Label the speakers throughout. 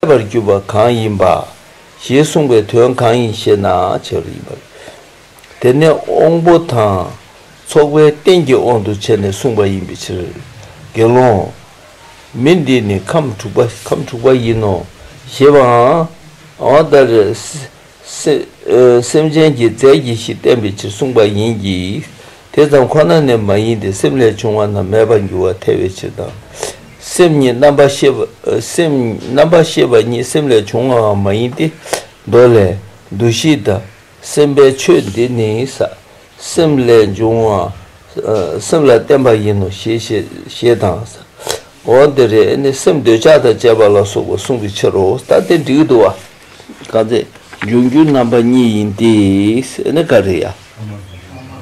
Speaker 1: ཐལ་བར་གྱུར་པ་གང་ཡིན་པ། ཞེས་གསུངས་པའི་དོན་གང་ཡིན་ཞེ་ན་བྱེ་བྲག་ཡིན་པ་རེད། དེ་ནི་དབང་པོ་དང་ཚོགས་པའི་རྟེན་གྱི་དབང་དུ་བྱས་ནས་གསུངས་པ་ཡིན་པའི་ཕྱིར། དགེ་སློང། མི་འདི་ནི་ཁམས་དྲུག་པ་ཁམས་དྲུག་པ་ཡིན་ནོ། ཞེས་པའང། སེམས་ཅན་གྱི་རྫས་ཀྱི་གཞི་བསྟན་པའི་ཕྱིར་གསུངས་པ་ཡིན་གྱི། དེ་ཙམ་ཁོ་ན་ནི་མ་ཡིན་ཏེ་སེམས་ལས་བྱུང་བ་རྣམས་མེད་པར་འགྱུར་བར་ཐལ་བའི་ཕྱིར་དང། སེམས་ཉིད་རྣམ་པར་ཤེས་པ་རྣམ་པར་ཤེས་པ་ཉིད་སེམས་ལས་བྱུང་བའང་མ་ཡིན་ཏེ། མདོ་ལས། འདུ་ཤེས་དང་སེམས་པའི་ཆོས་འདི་ནི་སེམས་ལས་འབྱུང་བ་སེམས་ལ་བརྟེན་པ་ཡིན་ནོ་ཞེས་དང། འོ་འདི་རེ་ནི་སེམས་འདོད་ཆགས་དང་བཅས་པ་ལ་སོགས་པ་གསུངས་པའི་ཕྱིར་རོ། ལྟ་སྟེ་འགྲིག་འདུ་བ། བཀའ་སྩལ། འབྱུང་འགྱུར་རྣམ་པ་གཉིས་ཡིན་ཏེ། ཨེ་ནི་ཀ་རི་ཡ།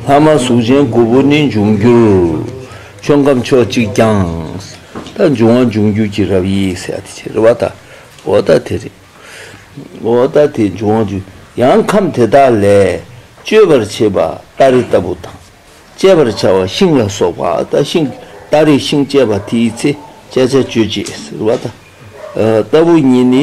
Speaker 1: ལྷག་མ་གཟུགས་ཅན་དགུ་པོ་ནི་འབྱུང་འགྱུར། ཆོས་ཁམས་ཕྱོགས་གཅིག་ཀྱང། ད་འབྱུང་བ་འབྱུང་འགྱུར་གྱི་རབ་དབྱེ་ཡིས་ཟད་དེ་ཕྱིར་རོ། བ་ད་འོ་ད་དེ་རེ། འོ་ད་དེ་འབྱུང་བ་འབྱུང། ཡང་ཁམས་དེ་དག་ལས། གཅོད་པར་བྱེད་པ་སྟ་རེ་ལྟ་བུ་དང། བཅད་པར་བྱ་བ་ཤིང་ལ་སོགས་པ་ཨ་ད་ཤིང། སྟ་རེ་ཤིང་བཅད་པ་དེའི་ཚེ་བཅད་བྱ་གཅོད་བྱེད་ཟེར་བ་ད། ལྟ་བུ་གཉིས་ནི་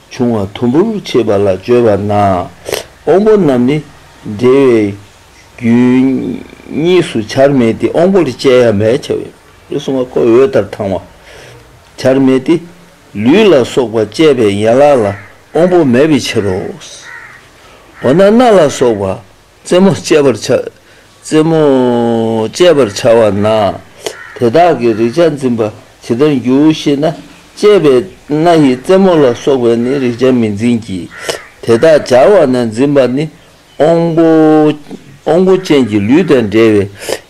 Speaker 1: བྱུང་བ་དུམ་བུར་ཕྱེས་པ་ལ་བརྗོད་པ་ན་དབང་པོ་རྣམས་ནི་འབྲེལ་བའི་རྒྱུན་གཉིས་སུ་བྱར་མེད་དེ་དབང་པོ་ལས་སྐྱེ་ཡང་མེད་བྱ་བའི་ལུས་གསུང་བ་ཁོ་བོའི་ལྟར་དང་བ་བྱར་མེད་དེ་ལུས་ལ་སོགས་པ་བསྐྱེད་པའི་ཡན་ལག་ལ་དབང་པོ་མེད་པའི་ཕྱིར་རོ། འོ་ན་སྣ་ལ་སོགས་པ། རྩེ་མོ་བཅད་པར་བྱ། རྩེ་མོ་བཅད་པར་བྱ་བ་ན། དེ་དག་གི་རེག་བྱ་འཛིན་པ་ཇི་ལྟར་འགྱུར་ཞེ་ན། བཅད་པའི་སྣ་ཡིས་རྩེ་མོ་ལ་སོགས་པས་ནི་རེག་བྱ་མི་འཛིན་གྱི། དེ་དག་སྦྱར་བ་ན་འཛིན་པ་ནི་ཨོང་བུ་ཅན་གྱི་ལུས་དང་འདྲ་བའི་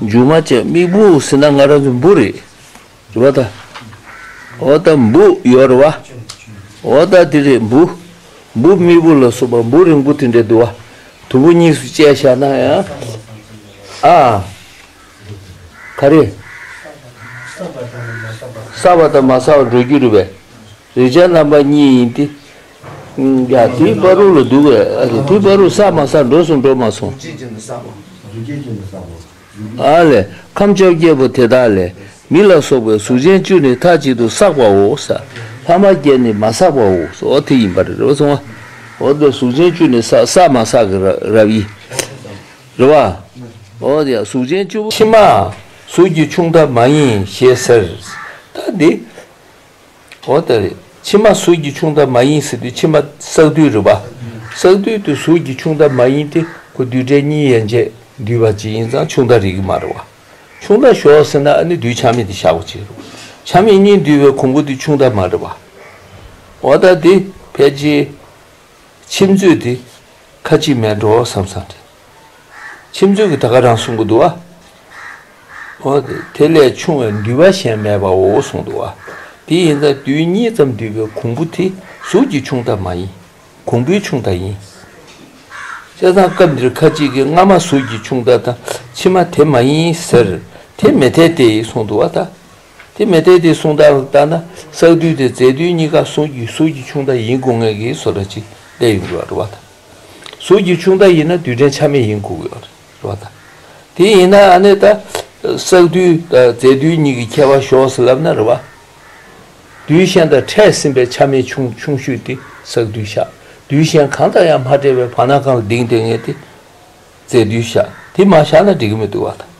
Speaker 1: མཇུག་མ་བཅད་མིག་འབུ་ཟིན་ན་ང་རང་ཚོའི་འབུ་རེད། འོ་ད། འོ་ད་འབུ་ཡོད་རེད་བ། འོ་ད་དེ་རེད་འབུ། འབུ་མིག་འབུ་ལ་སོགས་པ་འབུ་རིང་པོ་དེ་འདྲའི་དུ་བ་དུམ་བུ་གཉིས་སུ་བཅད་བཞག་ན་ཡང། ཨ། ག་རེ། ས་བ་དང་མ་ས་བ་འགྲོ་རྒྱུ་རེད་བས། རེག་བྱ་རྣམ་པ་གཉིས་ཡིན་ཏེ། དེའི་དཔའ་རུང་ལ་འདུག་བས་ཨ་ལས་དེའི་དཔའ་རུང་ས་མ་ས་འགྲོ་སོང་འགྲོ་མ་སོང། ཨ་ལས་ཁམས་བཅོ་བརྒྱད་པོ་དེ་དག་ལས་མི་ལ་སོགས་པའི་གཟུགས་ཅན་བཅུ་ནི་མཐའ་གཅིག་ཏུ་བསགས་པའོ། ས་ལྷག་མ་བརྒྱད་ནི་མ་བསགས་པའོ། འོ་དེ་ཡིན་པར་རེ་བ་སོང་ངོ། འོ་དེ་གཟུགས་ཅན་བཅུ་ནི་བསགས་བསགས་མ་བསགས་ཀྱི་རབ་ཡིན། རེ་བ། འོ་དེ་ཡང་གཟུགས་ཅན་བཅུ། ཕྱི་མ། གཟུགས་ཀྱི་ཆུང་མཐའ་མ་ཡིན་ཞེས་ཟེར། ད་འདི། འོ་ད་རེ། ཕྱི་མ་གཟུགས་ཀྱི་ཆུང་མཐའ་མ་ཡིན་ཟེར་དུས་ཕྱི་མ་བསགས་དུས་རེད་པ། བསགས་དུས་དུ་གཟུགས་ཀྱི་ཆུང་མཐའ་མ་ཡིན་ཏེ་ཁོ་བསྡུས་གྲྭའི་གཉིས་ཡན་ཆད་བསྡུས་པ་ཅིག་ཡིན་ཙང་ཆུང་མཐའ་རིག་གི་མ་རེད་བ། ཆུང་མཐའ་ཞོག་ཟེར་ན་ཨ་ནི་བསྡུས་ཆ་མེད་དེ་བཞག་པ་ཅིག་རེད་བ། ཆ་མེད་གཉིས་བསྡུས་པའི་གོང་བུ་དེ་ཆུང་མཐའ་མ་རེད་བ། འོ་ད་དེ་ཕལ་ཆེར། ཕྱི་མཛོད་དེ་ཁ་ཅིག་མེད་འགྲོ་བསམ་བསམ་རེད། ཁྱིམ་རྫུན་གྱི་ད་ག་རང་གསུང་གི་འདུག་ཨ། དེ་ལས་ཆུང་བའི་འདུལ་བ་གཞན་མེད་པའོ་གསུང་འདུག་ཨ། དེ་ཡིན་ད་དུས་གཉིས་ཙམ་འདུལ་བའི་གོང་བུ་དེ་གཟུགས་ཀྱི་ཆུང་མཐའ་མ་ཡིན། གོང་བུའི་ཆུང་མཐའ་ཡིན། བཤད་སྟངས་སྐབས་འདིར་ཁ་ཅིག་གིས་སྔ་མ་གཟུགས་ཀྱི་ཆུང་མཐའ་དང་ཕྱི་མ་དེ་མ་ཡིན་ཟེར། དེ་མི་འཐད་དེ་གསུང་འདུག་ཨ། དེ་མི་འཐད་དེ་གསུང་སྟངས་ལ་བརྟག་ན་བསགས་དུས་དེ་རྫས་དུས་གཉིས་ཀ་གཟུགས་ཀྱི་གཟུགས་ཀྱི་ཆུང་མཐའ་ཡིན་དགོས་ངེས་ཀྱི་བཟོ་ལྟ་ཅིག་བསླད་ཡོང་གི་རེད་བ་དང། གཟུགས་ཀྱི་ཆུང་མཐའ་ཡིན་ན་རྡུལ་ཕྲན་ཆ་མེད་ཡིན་དགོས་ཀྱི་རེད། དེ་ཡིན་ན་ཨ་ནེ་ད། བསགས་རྡུལ་དང་རྫས་རྡུལ་གཉིས་ཀྱི་ཁྱད་པར་ཞོགས་སུ་ལབ་ན་རེ་བ། རྡུལ་གཞན་དང་ཕྲད་ཟིན་པའི་ཆ་མེད་ཆུང་ཆུང་ཤོས་དེ་བསགས་རྡུལ་བཞག་རྡུལ་གཞན་གང་དང་ཡང་མ་འབྲེལ་བའི་བར་ན་གང་ལ་ལྡིང་ལྡིང་ངེས་དེ་རྫས་རྡུལ་བཞག་དེ་མ་བཞག་ན་འགྲིག་གི་མི་འདུག་བ་དང།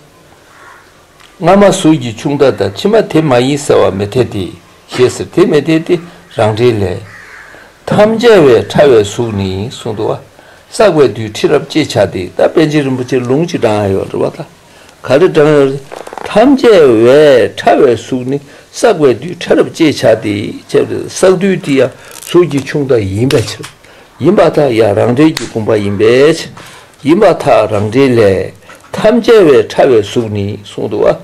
Speaker 1: སྔ་མ་ཟུར་གྱི་ཆུང་མཐའ་དང་ཕྱི་མ་དེ་མ་ཡིན་ཟེར་བ་མི་འཐད་དེ། ཞེས་ཟེར་དེ་མི་འཐད་དེ་རང་འགྲེལ་ལས། ཐམས་ཅད་བས་ཕྲ་བའི་གཟུགས་ནི་གསུང་དུ་བ། བསགས་པའི་དུས་ཁྲི་རབས་ཅེས་བྱ་སྟེ་ད་པན་ཆེན་རིན་པོ་ཆེ་ལུང་གཅིག་བགྲང་ཡོད་འདྲི་བ་ལྟར་ག་རེ་བགྲང་ཡོད་དེ། ཐམས་ཅད་བས་ཕྲ་བའི་གཟུགས་ནི་བསགས་པའི་དུས་ཁྲི་རབས་ཅེས་བྱ་སྟེ་བྱས་པ་བསགས་དུས་དེ་ཡང་ཟུར་གྱི་ཆུང་མཐའ་ཡིན་པའི་ཕྱིར། ཡིན་པ་དག་ཡང་རང་འགྲེལ་གྱི་དགོངས་པ་ཡིན་པའི་ཕྱིར། ཡིད་མ་ཐག་རང་འདྲའི་ལས། ཐམས་ཅད་བས་ཕྲ་བའི་གཟུགས་ནི་གསུང་དུ་བ།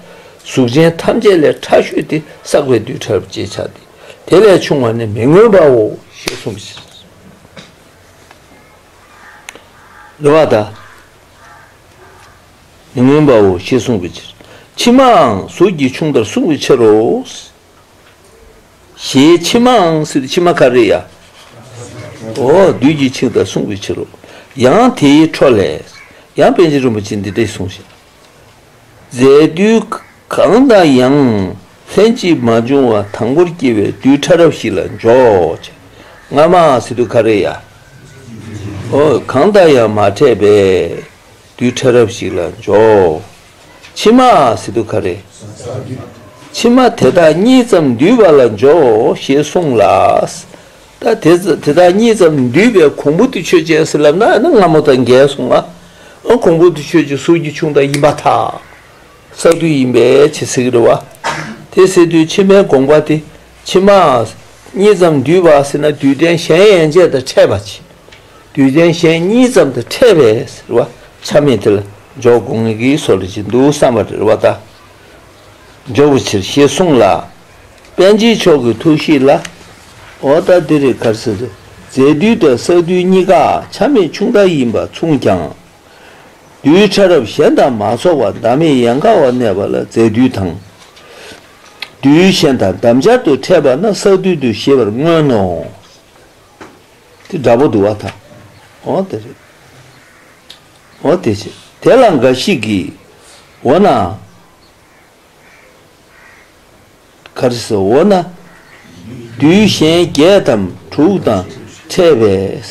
Speaker 1: གཟུགས་ཅན་ཐམས་ཅད་ལས་ཕྲ་ཤོས་ཏེ་བསགས་པའི་རྡུལ་ཕྲ་རབ་ཅེས་བྱ་སྟེ། དེ་ལས་ཕྱུང་བ་ནི་མི་མངོན་པའོ་ཞེས་གསུངས་ཤིང། ལུས་མ་ཐག་མི་མངོན་པའོ་ཞེས་གསུངས་པའི་ཕྱིར། ཕྱི་མའང་གཟུགས་ཀྱིས་ཕྱུང་བར་གསུངས་པའི་ཕྱིར་རོ། ཞེས་ཕྱི་མའང་སྲིད་དུ་ཕྱི་མ་ཀ་རི་ཡ། འོ་བདུད་ཀྱིས་འཆིང་དང་བསྲུང་བའི་ཕྱིར་རོ། ཡང་དེའི་འཕྲོ་ལས། ཡང་པཎ་ཆེན་རིན་པོ་ཆེས་འདི་སྐད་གསུངས་ཤིང། རྫས་དུས་གང་དང་ཡང་ལྷན་ཅིག་མ་འབྱུང་བ་དང་པོར་སྐྱེ་བའི་རྡུལ་ཕྲ་རབ་ཞིག་ལ་འཇོག། སྔ་མའང་སྲིད་དུ་ཀ་རི་ཡ། འོ་གང་དང་ཡང་མ་ཕྲད་པས་རྡུལ་ཕྲ་རབ་ཞིག་ལ་འཇོག། ཕྱི་མ་སི་ཏུ་ཁ་རེ། ཕྱི་མ་དེ་དག་གཉིས་ཙམ་འདུས་པ་ལ་འཇོག་ཞེས་གསུངས་ལ། དེ་དག་གཉིས་ཙམ་འདུས་པའི་གོང་བུ་དུ་ཆོས་ཅན་སེ་ལབ་ན་ནི་སྔ་མོ་དང་འགལ་གསུངས་ལ། གོང་བུ་དུ་ཆོས་ཀྱི་གཟུགས་ཀྱི་ཆུང་དག་ཡིན་པ་དག་ས་དུ་ཡིན་པས་ཇི་སྲིད་རེ་བ་དེ་སྲིད་དུ་ཕྱི་མའི་དགོངས་པ་དེ། ཕྱི་མ། གཉིས་ཙམ་འདུས་པ་ཟེར་ན་འདུས་ལྡན་གཞན་ཡན་ཆད་དང་ཕྲད་པ་ཕྱིན། འདུས་ལྡན་གཞན་གཉིས་ཙམ་དུ་ཕྲད་པས་ཟེར་བ་ཆ་མེད་དེ་ལ་འཇོག་དགོངས་ཀྱི་སོ་ལ་ཅི་འདུག་བསམ་པར་རེ་བ་དག་འཇོག་པའི་ཕྱིར་ཞེས་གསུངས་ལ། དཔལ་ཆེན་མཆོག་གི་ཐུགས་བཞེད་ལ། འོ་ད་འདི་རེ་གར་ཟེར། རྫས་འདུས་དང་ས་འདུས་གཉིས་ཀ་ཆ་མེད་ཆུང་ལྟར་ཡིན་པ་མཚུངས་ཀྱང། རྡུལ་ཕྲ་རབ་གཞན་དང་མ་ཚོགས་པ་བདག་མེད་ཡན་གར་བ་གནས་པ་ལ་རྫས་འདུས་དང། རྡུལ་གཞན་དང་འདབ་འབྱར་དུ་འཕྲད་པ་ན་སྲ་རྡུལ་དུ་ཤེས་པར་མངོན་ནོ། དེ་འདྲ་པོ་དུ་བ་དང། འོ་དེ་རེད། འོ་དེ་བྱེད། དེ་ལ་འགའ་ཞིག་གིས། འོ་ན། ག་རེ་ཟེར་འོ་ན། རྡུལ་གཞན་བརྒྱད་དམ་དྲུག་དང་འཕྲད་པས།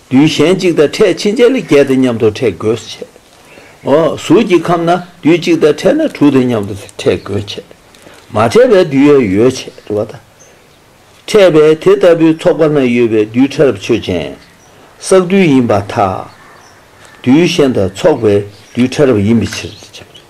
Speaker 1: རྡུལ་གཞན་གཅིག་དང་ཕྲད་ཕྱིན་ཆད་ལ་བརྒྱད་དང་མཉམ་དུ་ཕྲད་དགོས་སུ་ཆད། གཟུགས་ཀྱི་ཁམས་ན་རྡུལ་གཅིག་དང་ཕྲད་ན་དྲུག་དང་མཉམ་དུ་ཕྲད་དགོས་ཆད། མ་ཕྲད་པའི་རྡུལ་ཡོད་ཡོད་ཆད་བ་དང། ཕྲད་པའི་དེ་ལྟ་བུའི་ཚོགས་པ་ན་ཡོད་པའི་རྡུལ་ཕྲ་རབ་ཆོས་ཅན། བསགས་རྡུལ་ཡིན་པ་དག། རྡུལ་གཞན་དང་ཚོགས་པའི་རྡུལ་ཕྲ་རབ་ཡིན་པའི་ཕྱིར་ཞེས་བྱ་བ་རེད།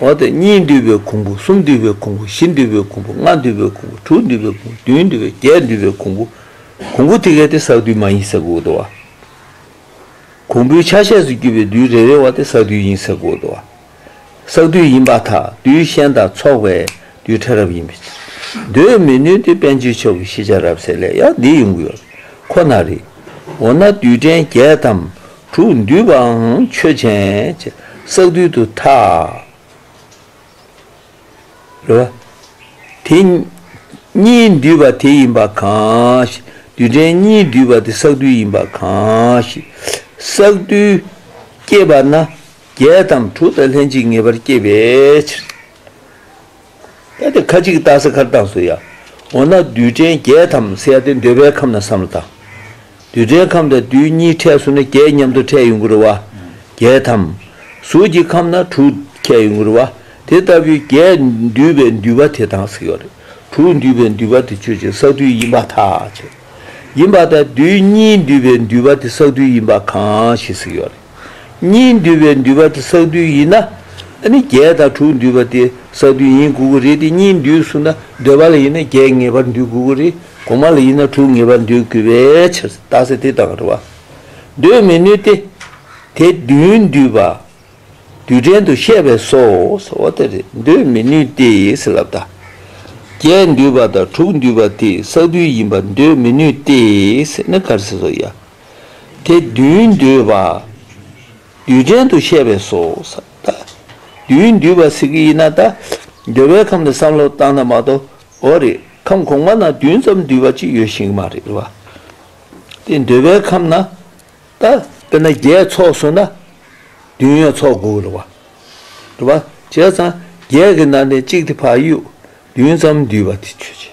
Speaker 1: འོ་དེ་གཉིས་འདུས་པའི་གོང་བུ་གསུམ་འདུས་པའི་གོང་བུ་བཞི་འདུས་པའི་གོང་བུ་ལྔ་འདུས་པའི་གོང་བུ་དྲུག་འདུས་པའི་གོང་བུ་བདུན་འདུས་པའི་བརྒྱད་འདུས་པའི་གོང་བུ། གོང་བུ་དེ་གས་ཏེ་ས་རྡུལ་མ་ཡིན་ཟེར་དགོས་དོ། གོང་བུའི་ཆ་ཤས་སུ་གྱུར་པའི་རྡུལ་རེ་རེ་བ་དེ་ས་རྡུལ་ཡིན་ཟེར་དགོས་དོ། ས་རྡུལ་ཡིན་པ་དག་རྡུལ་ཤན་དང་ཚོགས་པའི་རྡུལ་ཕྲ་རབ་ཡིན་པས་འདོད་མི་ནུས་ཏེ་དཔལ་འབྱོར་མཆོག་གི་ཤེས་བྱ་རབ་གསལ་ལས་ཡང་འདི་ཡོང་གི་ཡོད་ཁོ་ན་རེད། འོ་ན་རྡུལ་ཕྲན་བརྒྱད་དམ། དྲུག་འདུས་པའང་ཆོས་ཅན། བསགས་རྡུལ་དུ་ཐལ། དེ་གཉིས་འདུས་པ་དེ་ཡིན་པ་གང་ཞིག། རྡུལ་ཕྲན་གཉིས་འདུས་པ་དེ་བསགས་རྡུལ་ཡིན་པ་གང་ཞིག། བསགས་རྡུལ་སྐྱེས་པ་ན་བརྒྱད་དམ་དྲུག་དང་ལྷན་ཅིག་ངེས་པར་སྐྱེས་པའི་ཕྱིར། ལྟ་སྟེ་ཁ་ཅིག་སྟག་ཟ་ཁར་བཏགས་སོ་ཡང། འོ་ན་རྡུལ་ཕྲན་བརྒྱད་དམ་གསལ་ཏེ་འདོད་པའི་ཁམས་ན་བསམ་ལ་དང། རྡུལ་ཕྲན་ཁམས་དང་རྡུལ་གཉིས་ཕྲད་སུ་ན་བརྒྱད་མཉམ་དུ་ཕྲད་ཡོང་གི་རུ་བ། བརྒྱད་དམ། གཟུགས་ཀྱི་ཁམས་ན་དྲུག་ཕྲད་ཡོང་གི་རུ་བ། དེ་ལྟ་བུའི་བརྒྱད་འདུས་པའི་འདུས་པ་དེ་དང་ཟེར་བ་རེད། དྲུག་འདུས་པའི་འདུས་པ་དེ་ཆོས་ཅན་བསགས་རྡུལ་ཡིན་པ་ཐག་ཆོད་ཡིན་པ་དང་རྡུལ་གཉིས་འདུས་པའི་འདུས་པ་དེ་བསགས་རྡུལ་ཡིན་པ་གང་ཞིག་ཟེར་བ་རེད། གཉིས་འདུས་པའི་འདུས་པ་དེ་བསགས་བསྡུས་ཡིན་ན། ཨ་ནི་བརྒྱད་དང་དྲུག་འདུས་པ་དེ་བསགས་བསྡུས་ཡིན་དགོས་ཀྱི་རེད་དེ་གཉིས་འདུས་གསུངས་ན་འདོད་པ་ལ་ཡིན་ན་བརྒྱད་ངེས་པར་འདུས་དགོས་ཀྱི་རེད་གོང་མ་ལ་ཡིན་ན་དྲུག་ངེས་པར་འདུས་དགོས་པའི་ཕྱིར་རྟགས་ཚད་དེ་དང་རེ་བ་འདོད་མི་ནུས་ཏེ། དེ་བདུན་འདུས་པ་རྡུལ་ཕྲན་དུ་བཤད་པས་སོ་ཟེར་བ་དེ་རེད་འདོད་མི་ནུས་ཏེ་ཟེར་ལབ་ད། བརྒྱད་འདུས་པ་དང་དྲུག་འདུས་པ་དེ་བསགས་བསྡུས་ཡིན་པར་འདོད་མི་ནུས་ཏེ་ཟེར་ན་ག་རེ་ཟེར་སོ་ཡ། དེ་བདུན་བསྡུས་པ། རྡུལ་ཕྲན་དུ་བཤད་པས་སོ། བདུན་བསྡུས་པ་ཟེར་གྱི་ཡིན་ན་ད་འདོད་པའི་ཁམས་ནི་བསམ་བློ་བཏང་ན་མ་གཏོགས་འོ་རེད་ཁམས་གོང་མ་ན་བདུན་ཙམ་བསྡུས་པ་ཅིག་ཡོད་ཤེས་ཀྱི་མ་རེད་བ། དེ་འདོད་པའི་ཁམས་ན་ད་དཔེར་ན་བརྒྱད་ཚོགས་བཟོ་ན་བདུན་ཡོད་ཚོགས་དགོས་ཀྱི་རེད་བ། རེད་བ། བྱས་ཙང་བརྒྱད་ཀྱི་ནང་ནས་གཅིག་དེ་བག་ཡོད་བདུན་ཙམ་བསྡུས་པ་དེ་ཆོས་ཅན།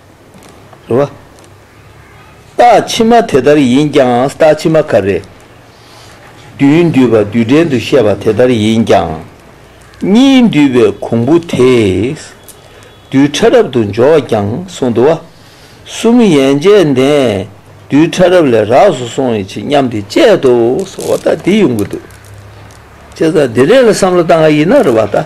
Speaker 1: རེད། རྟགས་ཕྱི་མ་དེ་ལྟར་ཡིན་ཀྱང་རྟགས་ཕྱི་མ་ག་རེ། བདུན་བསྡུས་པ་བསྡུས་འགྲེལ་དུ་བཤད་པ་དེ་ལྟར་ཡིན་ཀྱང། གཉིས་བསྡུས་པའི་གོང་བུ་དེས་རྡུལ་ཕྲ་རབ་ཏུ་འཇོག་ཀྱང་གསུངས་འདུག། གསུམ་ཡན་ཆད་ནས་རྡུལ་ཕྲ་རབ་ལས་རགས་སུ་སོང་བའི་ཆེ་མཉམ་དེ་དཔྱད་དུ་སོ་བ་ལྟ་དེ་ཡོང་གི་འདུག། བྱས་ཙང་དེ་རེད་ལ་བསམ་བློ་བཏང་ག་ཡིན་ན་རེད་བ་ལྟ།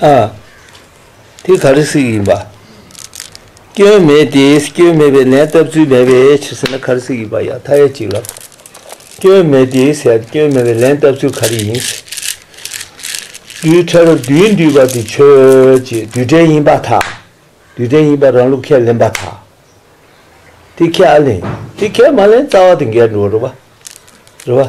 Speaker 1: ཨ། དེ་ག་རེ་ཟིག་ཡིན་པ། སྐྱོན་མེད་དེ་སྐྱོན་མེད་པའི་ལན་བཏབ་ཚུལ་མེད་པའི་ཕྱིར་ཟེར་ན་ག་རེ་ཟིག་ཡིན་པ་ཡང་མཐའ་ཡས་གཅིག་ལབ། སྐྱོན་མེད་དེ་ཟེར་སྐྱོན་མེད་པའི་ལན་བཏབ་ཚུལ་ག་རེ་ཡིན། རྡུལ་ཕྲ་རབ་རྡུལ་འདུས་པ་དེ་ཆོས་ཀྱི་རྡུལ་ཕྲན་ཡིན་པ་དང། རྡུལ་ཕྲན་ཡིན་པར་རང་ལུགས་ཁས་ལེན་པ་དང། དེ་ཁས་ཨ་ལེན་དེ་ཁས་མ་ལེན་རྩ་བ་དེ་འགལ་འགྲོ་བ་རེད་པ།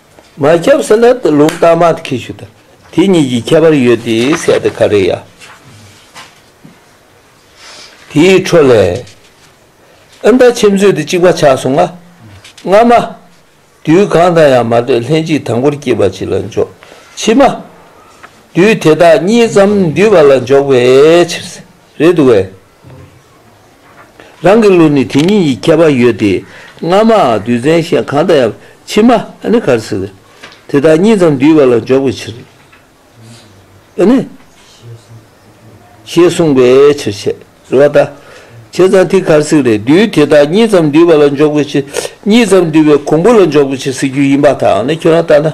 Speaker 1: མ་ཁྱབ་སེ་ལ་དེ་ལུང་བརྟགས་མ་དེ་ཁས་ཞུ་དང་དེ་གཉིས་ཀྱི་ཁྱད་པར་ཡོད་དེ་ཟད་དེ་ཁ་རེ་ཡ། དེའི་འཕྲོ་ལས། ཨི་མདའ་ཁྱིམ་མཚོས་དེ་གཅིག་པ་ཆགས་སོང་ང། སྔ་མ། དུས་གང་དང་ཡང་མ་ལྟོས་ལྷན་ཅིག་དང་པོར་སྐྱེས་པ་ཅིག་ལ་འཇོག། ཕྱི་མ། དུས་དེ་དག་གཉིས་ཙམ་འདུས་པ་ལ་འཇོག་པའི་ཕྱིར། རེད་འདུག་བས། རང་གི་ལུས་ནི་དེ་ཉིད་ཀྱི་ཁྱད་པར་ཡོད་དེ། སྔ་མ་རྡུལ་ཚན་གཞན་གང་དང་ཡང་ཕྱི་མ་ནི་གར་སྲིད་དེ་དག་གཉིས་ཙམ་འདུས་པ་ལ་འཇོག་པའི་ཕྱིར། ཞེས་གསུངས་པའི་ཕྱིར་བྱེད་རེ་བ་དང། བྱེད་ཙམ་ཐིག་གར་སྲིད་རེ་རྡུལ་དེ་དག་གཉིས་ཙམ་འདུས་པ་ལ་འཇོག་པའི་ཕྱིར་གཉིས་ཙམ་འདུས་པའི་གོང་བུ་ལ་འཇོག་པའི་ཕྱིར་སྲིད་རྒྱུད་ཡིན་པ་དང་ནི་ཁྱོད་རང་ལྟར་ན།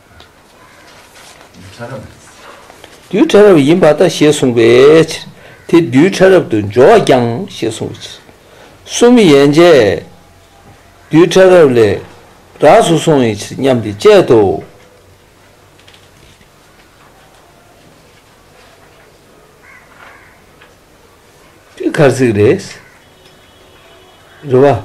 Speaker 1: རྡུལ་ཕྲ་རབ་ཡིན་པ་དང་ཞེས་གསུངས་པའི་ཕྱིར། དེ་རྡུལ་ཕྲ་རབ་ཏུ་འཇོག་ཀྱང་ཞེས་གསུངས་པའི་ཕྱིར། གསུམ་ཡན་ཆད། རྡུལ་ཕྲ་རབ་ལས་རགས་སུ་སོང་བའི་ཕྱིར་སྙམ་སྟེ་དཔྱད་དོ། འདི་གར་ཚིག་རེས་རེ་བ།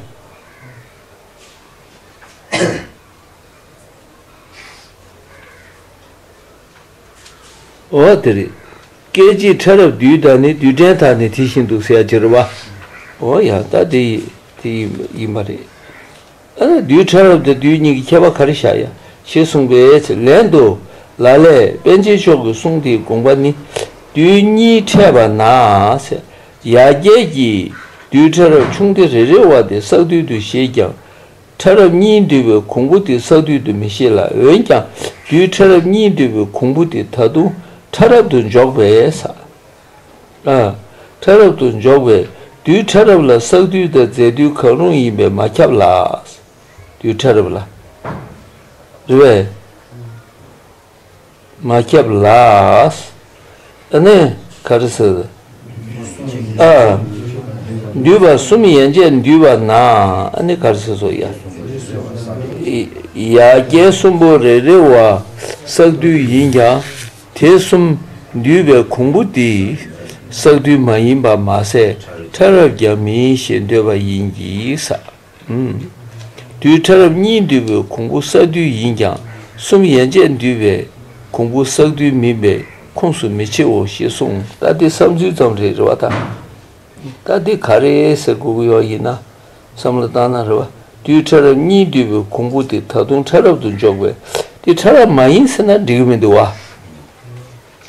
Speaker 1: ཨོ་དེ་རེད། སྐད་ཅིག་ཕྲ་རབ་དུས་ད་ནི་དུས་དྲན་དག་ནི་དེ་བཞིན་འདུག་ཟེར་ཡ་ཅི་རེད་བ། ཨོ་ཡ་ད་དེ་དེ་ཡིན་པ་རེད། ཨ་ར་དུས་ཕྲ་རབ་དང་དུས་གཉིས་ཀྱི་ཁྱད་པ་ག་རེ་བཞག་ཡ་ཞེས་གསུངས་པས་ལན་དུ། ལ་ལས་དཔལ་ཆེན་མཆོག་གི་གསུང་དེའི་དགོངས་པ་ནི། དུས་གཉིས་ཕྲད་པ་ན། ཡ་རྒྱལ་གྱིས་དུས་ཕྲ་རབ་ཆུང་སྟེ་རེ་རེ་བ་དེ་བསགས་དུས་དུ་ཞེས་ཀྱང། ཕྲ་རབ་གཉིས་འདུས་པའི་གོང་བུ་དེ་ས་རྡུལ་དུ་མི་ཤེས་ལ་འོན་ཀྱང་རྡུལ་ཕྲ་རབ་གཉིས་འདུས་པའི་གོང་བུ་དེ་ད་དུང་ཕྲ་རབ་ཏུ་འཇོག་པས། ཕྲ་རབ་ཏུ་འཇོག་པས་རྡུལ་ཕྲ་རབ་ལ་ས་རྡུལ་དང་རྫས་རྡུལ་གང་རུང་ཡིན་པས་མ་ཁྱབ་ལ། རྡུལ་ཕྲ་རབ་ལ། རེ་བས། མ་སྐྱབས་ལགས། ཨ་ནི་ག་རེ་ཟེར། ཨ། འདུས་པ་གསུམ་ཡན་ཆད་འདུས་པ་ན་ཨ་ནི་ག་རེ་ཟེར་སོ་ཡ། ཡ་རྒྱལ་གསུམ་པོ་རེ་རེ་བ་བསགས་རྡུལ་ཡིན་ཀྱང་དེ་གསུམ་འདུས་པའི་གོང་བུ་དེ་བསགས་རྡུལ་མ་ཡིན་པ་མ་ཟད་ཕྲ་རབ་ཀྱང་མིན་ཞེས་འདོད་པ་ཡིན་གྱི། རྡུལ་ཕྲ་རབ་གཉིས་འདུས་པའི་གོང་བུ་བསགས་རྡུལ་ཡིན་ཀྱང་གསུམ་ཡན་ཆད་འདུས་པའི་གོང་བུ་བསགས་རྡུལ་མིན་པས་ཁུངས་སུ་མི་ཆེའོ་ཞེས་གསུངས། རྟ་དེ་བསམ་ཚུལ་ཙམ་རེ་རེ་བ་དང། རྟ་དེ་ག་རེ་ཟེར་དགོས་ཀྱི་ཡོད་ཡིན་ན་བསམ་བློ་བཏང་ན་རེ་བ་རྡུལ་ཕྲ་རབ་གཉིས་འདུས་པའི་གོང་བུ་དེ་ད་དུང་ཕྲ་རབ་ཏུ་འཇོག་པས་དེ་ཕྲ་རབ་མ་ཡིན་ཟེར་ན་འགྲིག་གི་མི་འདུག་བ།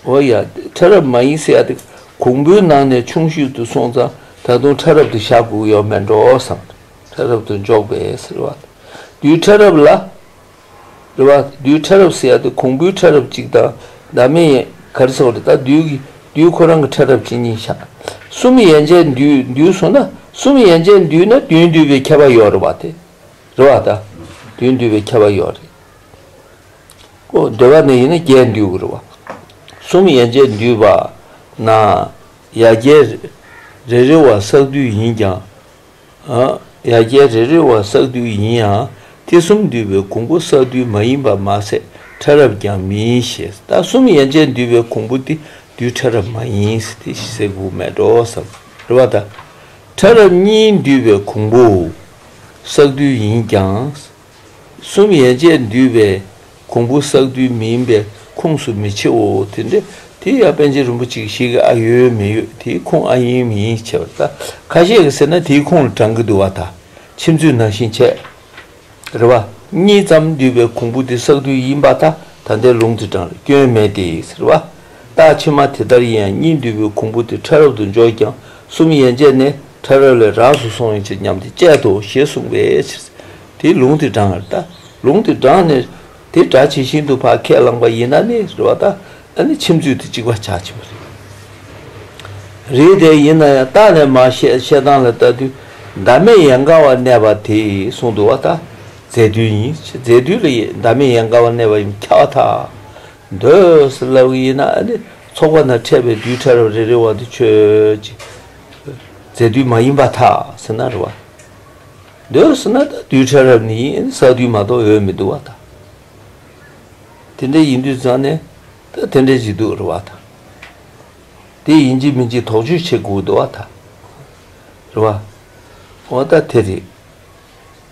Speaker 1: ཨོ་ཡ། ཕྲ་རབ་མ་ཡིན་སེ་ཡ་དེ། གོང་བུའི་ནང་ནས་ཆུང་ཤོས་དུ་སོང་ཙང་ད་དུང་ཕྲ་རབ་ཏུ་ཞག་དགུག་ཡོད་མེད་འགྲོ་བསམ། ཕྲ་རབ་ཏུ་འཇོག་པས་ཟེར་བ། རྡུལ་ཕྲ་རབ་ལ། རེད་བ། རྡུལ་ཕྲ་རབ་སེ་ཡ་དེ་གོང་བུའི་ཕྲ་རབ་གཅིག་དང་ཟླ་མེད་ཡན་གར་སོགས་རེད་ད་རྡུལ་གྱི་རྡུལ་ཁོ་རང་གི་ཕྲ་རབ་ཇི་སྙེད་ཞག་གསུམ་ཡན་ཆད་འདུས་འདུས་སོང་ན་གསུམ་ཡན་ཆད་འདུས་ན་བདུན་འདུས་པའི་ཁྱད་པར་ཡོད་རེད་བ་དེ། རེད་བ་ད། བདུན་འདུས་པའི་ཁྱད་པར་ཡོད་རེད། ཀོ། བདེ་བ་ནི་ཡིན་ན་རྒྱས་འདུས་དགུ་རུ་བ། གསུམ་ཡན་ཆད་འདུས་པ་ན། ཡ་རྒྱས་རེ་རེ་བ་བསགས་བསྡུས་ཡིན་ཀྱང། ཡ་རྒྱས་རེ་རེ་བ་བསགས་བསྡུས་ཡིན་ཡང་ཐེག་གསུམ་འདུས་པའི་གོང་བུ་བསགས་བསྡུས་མ་ཡིན་པ་མ་ཟད་ཕྲ་རབ་ཀྱང་མིན་ཞེས་ལྟ་གསུམ་ཡན་ཆད་འདུས་པའི་གོང་བུ་དེ་བསྡུས་ཕྲ་རབ་མ་ཡིན་ཏེ་ཟས་གོས་མལ་གྲོ་སམ་རུ་བ་དང། ཕྲ་རབ་གཉིས་འདུས་པའི་གོང་བུ་བསགས་བསྡུས་ཡིན་ཀྱང། གསུམ་ཡན་ཆད་འདུས་པའི་གོང་བུ་བསགས་དུས་མིན་པའི་ཁུངས་སུ་མི་ཆེའོ། དེ་འདྲ་དེ་ཡང་པཎ་ཆེན་རིན་པོ་ཆེ་ཞིག་གིས་ཨ་ཡོད་མི་ཡོད་དེའི་ཁུངས་ཨ་ཡིན་མི་ཡིན་བྱས་པ་ལྟ་ཁ་ཤས་ཀྱིས་ཟེར་ན་དེའི་ཁུངས་ལ་བགྲང་གི་འདུག་བ་དང་ཁྱིམ་མཚེས་ནང་བཞིན་བྱས། རེ་བ། གཉིས་ཙམ་འདུས་པའི་གོང་བུ་དེ་བསགས་དུས་ཡིན་པ་དང་ད་ལྟའི་ལུང་དེ་བགྲང་ལ་སྐྱོན་མེད་དེ་ཟེར་བ། རྟགས་ཕྱི་མ་དེ་ལྟར་ཡིན་ཡང་གཉིད་འདུལ་བའི་གོང་བུ་དེ་ཕྲ་རབ་ཏུ་འཇོག་ཀྱང་གསུམ་ཡན་ཆད་ནི་ཕྲ་རབ་ལས་རགས་སུ་སོང་ཡོད་ཅེས་སྙམ་སྟེ་དཔྱད་དོ་ཞེས་གསུངས་པའི་ཕྱིར། དེས་ལུང་དེ་བགྲང་བར་ལྟ། ལུང་དེ་བགྲང་ནས་དེ་སྒྲ་ཇི་བཞིན་དུ་བག་ཁས་བླངས་པ་ཡིན་ན་ནི་རེ་བ་ལྟ་ན་ནི་ཁྱིམ་རྒྱུད་དེ་གཅིག་པ་ཆགས་ཀྱི་མ་རེད། རེད་དེ་ཡིན་ན་ཡང་བརྟགས་ནས་མ་བཤད་བཤད་སྟངས་ལ་བལྟ་དུས་ཟླ་མེད་ཡན་གར་བར་གནས་པ་དེས་གསུངས་འདུག་བ་ལྟ། རྫས་རྡུལ་ཡིན་ཞེས་རྫས་རྡུལ་ལ་ཟླ་མེད་ཡན་གར་བར་གནས་པ་ཡིན་ཁྱབ་བ་ཐག། འདོད་ལགས་ཡིན་ན་ནི་ཚོགས་པ་ན་འཕྲད་པའི་རྡུལ་ཕྲ་རབ་རེ་རེ་བ་དུ་ཁྱོད་ཀྱི་རྫས་རྡུལ་མ་ཡིན་པ་ཐག་ཟིན་ན་རེ་བ་འདོད་ཟིན་ན་དང་རྡུལ་ཕྲ་རབ་ནི་ཡིན་ས་རྡུལ་མ་གཏོགས་འོད་མི་འདུག་བ་དང། དེ་འདྲ་ཡིན་དུས་ཙང་ནས་ད་དེ་འདྲ་ཅིག་འདུག་རེ་བ་དང། དེ་ཡིན་གྱི་མིན་གྱི་དོགས་གཅོད་བྱེད་དགོས་འདུག་བ་དང། རེ་བ། འོ་ད་དེ་རེད།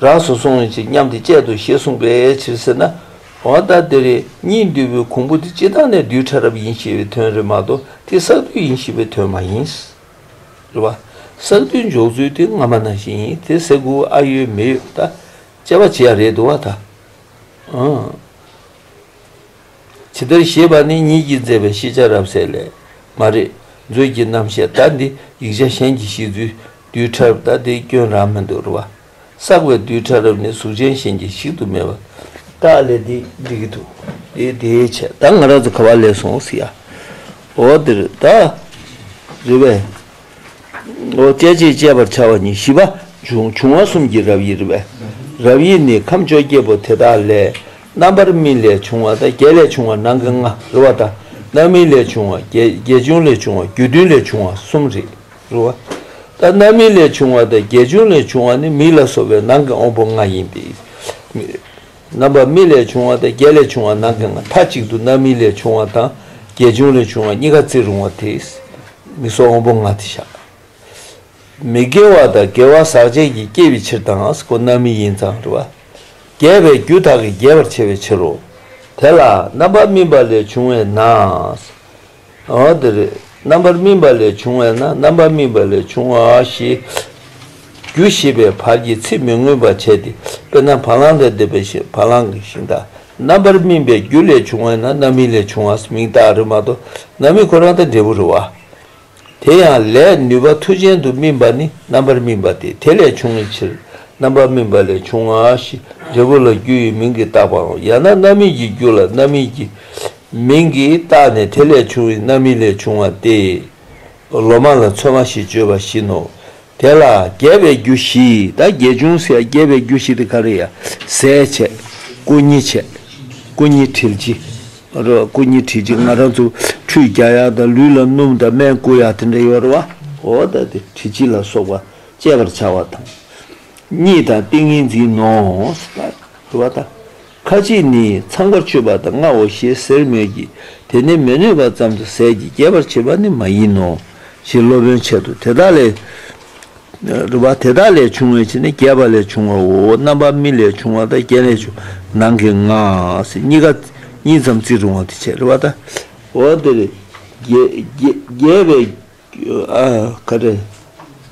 Speaker 1: རགས་སུ་སོང་བའི་ཕྱིར་སྙམ་སྟེ་དཔྱད་དོ་ཞེས་གསུངས་པའི་ཕྱིར་ཟེར་ན། འོ་ད་དེ་རེ་གཉིས་འདུས་པའི་གོང་བུ་དེ་སྤྱི་དང་ནས་རྡུལ་ཕྲ་རབ་ཡིན་ཞེས་པའི་དོན་རེད་མ་གཏོགས་དེ་བསགས་རྡུལ་ཡིན་ཞེས་པའི་དོན་མ་ཡིན། རེད་བ། བསགས་རྡུལ་འཇོག་ཚུལ་དེ་སྔ་མ་ན་བཞིན་ཡིན་དེ་ཟེར་དགོས་ཨ་ཡོད་མི་ཡོད་ད་དཔྱད་པ་བྱེད་ཡ་རེད་འདུག་བ་ད། ཇི་ལྟར་ཞེས་པ་ནི་ཉིད་ཀྱིས་མཛད་པའི་ཤེས་བྱ་རབ་གསལ་ལས་མ་རེད་མཛོད་ཀྱི་རྣམ་བཤད་ད་འདི་ཡིག་ཆ་གཞན་གྱི་ཤེས་ཚུལ་རྡུལ་ཕྲ་རབ་ལྟ་དེའི་སྐྱོན་རང་མི་འདོར་བ། བསགས་པའི་རྡུལ་ཕྲ་རབ་ནི་གཟུགས་ཅན་གཞན་གྱིས་བཤིག་ཏུ་མེད་པ། བདག་ལས་འདི་འདྲི་གི་འདུག་དེ་དེའི་ཆེད་བདག་ང་རང་ཚོ་ག་བ་ལས་སོང་ཟེར་ཡ། འོ་འདིར་བདག་རེ་བས། འོ་སྐད་ཅེས་དཔྱད་པར་བྱ་བ་ནི་བཞི་པ། འབྱུང་བ་གསུམ་གྱི་རབ་དབྱེ་རེ་བས། རབ་དབྱེ་ནི་ཁམས་བཅོ་བརྒྱད་པོ་དེ་དག་ལས། རྣམ་པར་སྨིན་ལས་བྱུང་བ་དང་བརྒྱད་ལས་བྱུང་བ་ནང་གི་ལྔ་རེ་བ་དང། རྣམ་སྨིན་ལས་བྱུང་བ་བརྒྱད། བརྒྱད་བྱུང་ལས་བྱུང་བ་བརྒྱུད་མཐུན་ལས་བྱུང་བ་གསུམ་རེ། རུ་བ། ད་རྣམ་སྨིན་ལས་བྱུང་བ་དང་བརྒྱད་ཅུ་ལས་བྱུང་བ་ནི་མིག་ལ་སོགས་པའི་ནང་གི་འོང་བུ་ལྔ་ཡིན་ཏེ། རྣམ་པར་སྨིན་ལས་བྱུང་བ་དང་བརྒྱད་ལས་བྱུང་བ་ནང་གི་ལྔ་མཐའ་གཅིག་ཏུ་རྣམ་སྨིན་ལས་བྱུང་བ་དང་བརྒྱད་ཅུ་ལས་བྱུང་བ་གཉིས་ཀ་བརྩི་རུང་བ་དེ། མིག་སོགས་འོང་བུ་ལྔ་སྟེ་བྱ། མི་དགེ་བ་དང་དགེ་བ་ཟག་བཅས་ཀྱི་སྐྱེ་བའི་ཕྱིར་དང་ཀུན་རྣམ་སྨིན་ཡིན་ཙང་རུ་བ། རྒྱས་པའི་རྒྱུ་དག་གིས་རྒྱས་པར་བྱེད་པའི་ཕྱིར་རོ། དེ་ལ་རྣམ་པར་སྨིན་པ་ལས་བྱུང་བས་ན། འོ་དེ་རེད། རྣམ་པར་སྨིན་པ་ལས་བྱུང་བས་ན་རྣམ་པར་སྨིན་པ་ལས་བྱུང་བ་ཞེས། རྒྱུ་ཞེས་པའི་བར་གྱིས་ཚིག་མི་མངོན་པར་བྱས་ཏེ། དཔེར་ན་བ་ལང་ལས་འདས་པའི་ཞིང་བ་ལང་གི་ཞིང་དང། རྣམ་པར་སྨིན་པའི་རྒྱུ་ལས་བྱུང་བས་ན་རྣམ་སྨིན་ལས་བྱུང་བ་མིང་བཏགས་རི་མ་གཏོགས་རྣམ་སྨིན་ཁོ་རང་དང་འབྲས་བུ་རི་བ། དེ་ཡང་ལས་ནུས་པ་མཐུ་ཅན་དུ་སྨིན་པ་ནི་རྣམ་པར་སྨིན་པ་སྟེ་དེ་ལས་བྱུང་བའི་ཕྱིར། རྣམ་པར་སྨིན་པ་ལས་བྱུང་བ་ཞེས་འབྲས་བུ་ལ་རྒྱུ་ཡི་མིང་གིས་བཏགས་པའམ་ཡང་ན་རྣམ་སྨིན་གྱི་རྒྱུ་ལ་རྣམ་སྨིན་གྱི་མིང་གིས་བཏགས་ནས་དེ་ལས་བྱུང་བའི་རྣམ་སྨིན་ལས་བྱུང་བ་སྟེ། ལོ་མ་ལ་མཚོན་མ་ཞེས་བརྗོད་པ་བཞིན་ནོ། དེ་ལ་རྒྱས་པའི་རྒྱུ་བཞི་དང་རྒྱས་ཅུང་ཟད་རྒྱས་པའི་རྒྱུ་བཞི་དེ་ག་རེ་ཡ། ཟས་བྱས། སྐུ་ཉིད་བྱས། སྐུ་ཉིད་དྲིལ་གྱི། སྐུ་ཉིད་དྲིལ་གྱི་ང་རང་ཚོ་ཁྲུས་རྒྱ་ཡག་དང་ལུས་ལ་སྣུམ་དང་སྨན་བསྐུ་ཡག་དེ་འདྲ་ཡོད་རེད་བ། འོ་ད་དེ་དྲིལ་གྱི་ལ་སོགས་པ་སྤྱད་པར་བྱ་བ་དང། གཉིད་དང་ཏིང་ངེ་འཛིན་ནོ། རེད་བ་ད། ཁ་ཅིག་ནི་ཚངས་པར་སྤྱོད་པ་དང་ལྔའོ་ཞེས་ཟེར་མོད་ཀྱི་དེ་ནི་མི་གནོད་པ་ཙམ་དུ་ཟད་ཀྱི་རྒྱས་པར་བྱེད་པ་ནི་མ་ཡིན་ནོ་ཞེས་སློབ་དཔོན་འཆད་དོ་དེ་དག་ལས། རུ་བ་དེ་དག་ལས་བྱུང་བའི་ཕྱིར་ནི་རྒྱས་པ་ལས་བྱུང་བའོ་རྣམ་པར་སྨིན་ལས་བྱུང་བ་དང་རྐྱེན་ལས་བྱུང་བ་ནང་གི་སྔགས་གཉིས་ཀ་གཉིས་ཙམ་བརྩི་རུང་བ་དེ་བྱེད་རུ་བ་དང། འོ་དེར་རྒྱས་པའི་ཁ་ཏྲ།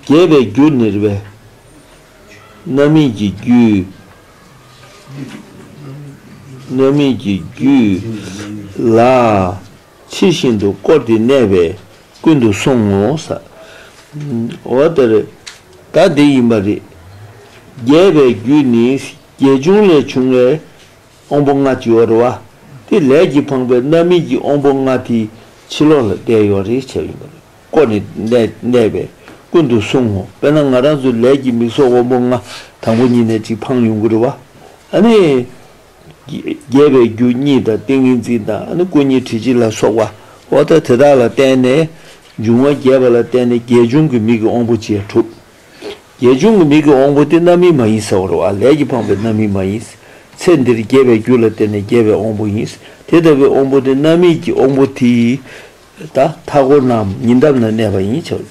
Speaker 1: རྒྱས་པའི་རྒྱུ་ནིར་བའི་རྣམ་སྨིན་གྱི་རྒྱུ། རྣམ་སྨིན་གྱི་རྒྱུ། ལ། ཕྱིར་བཞིན་དུ་བསྐོར་ཏེ་གནས་པས་ཀུན་དུ་སོང་ངོ། འོ་ད་རེ། ད་འདི་ཡིན་པ་རེ། རྒྱས་པའི་རྒྱུ་ནི་རྒྱས་བྱུང་ལས་བྱུང་བའི་དབང་པོ་ལྔ་སྤྱི་བོར་བ། དེ་ལས་ཀྱི་འཕངས་པའི་རྣམ་སྨིན་གྱི་དབང་པོ་ལྔ་དེའི་ཕྱི་ལོགས་ལ་བརྡལ་ཡོད་རེག་བྱ་ཡིན་པར་བཀོད་ནས་གནས་པས་ཀུན་ཏུ་བསྲུང་ངོ། དཔེར་ན་ང་རང་ཚོའི་ལས་ཀྱི་མིག་སོགས་དབང་པོ་ལྔ་དང་པོ་ཉིད་ནས་ཅིག་འཕངས་ཡོང་གིར་བ། རྒྱས་པའི་རྒྱུ་གཉིས་དང་ཏིང་ངེ་འཛིན་དང་སྐུ་གཉིས་དྲི་ཆུ་ལ་སོགས་པ་འོ་དེ་དག་ལ་བརྟེན་ནས་འབྱུང་བ་རྒྱས་པ་ལ་བརྟེན་ནས་རྒྱས་བྱུང་གི་མིག་གི་དབང་པོ་བཅས་གྲུབ། རྒྱལ་བྱུང་གི་མིག་གི་དབང་པོ་སྟེ་རྣམ་སྨིན་མ་ཡིན་ཟེར་བར་བ་ལས་ཀྱིས་འཕངས་པའི་རྣམ་སྨིན་མ་ཡིན། ཚེ་འདིར་རྒྱས་པའི་རྒྱུ་ལ་བརྟེན་ནས་རྒྱས་པའི་དབང་པོ་ཡིན། དེ་ལྟ་བུའི་དབང་པོ་སྟེ་རྣམ་སྨིན་གྱི་དབང་པོ་དེ་ཡིས། མཐའ་སྐོར་རྣམས་ཉིད་འདབ་ན་གནས་པ་ཡིན་བྱ།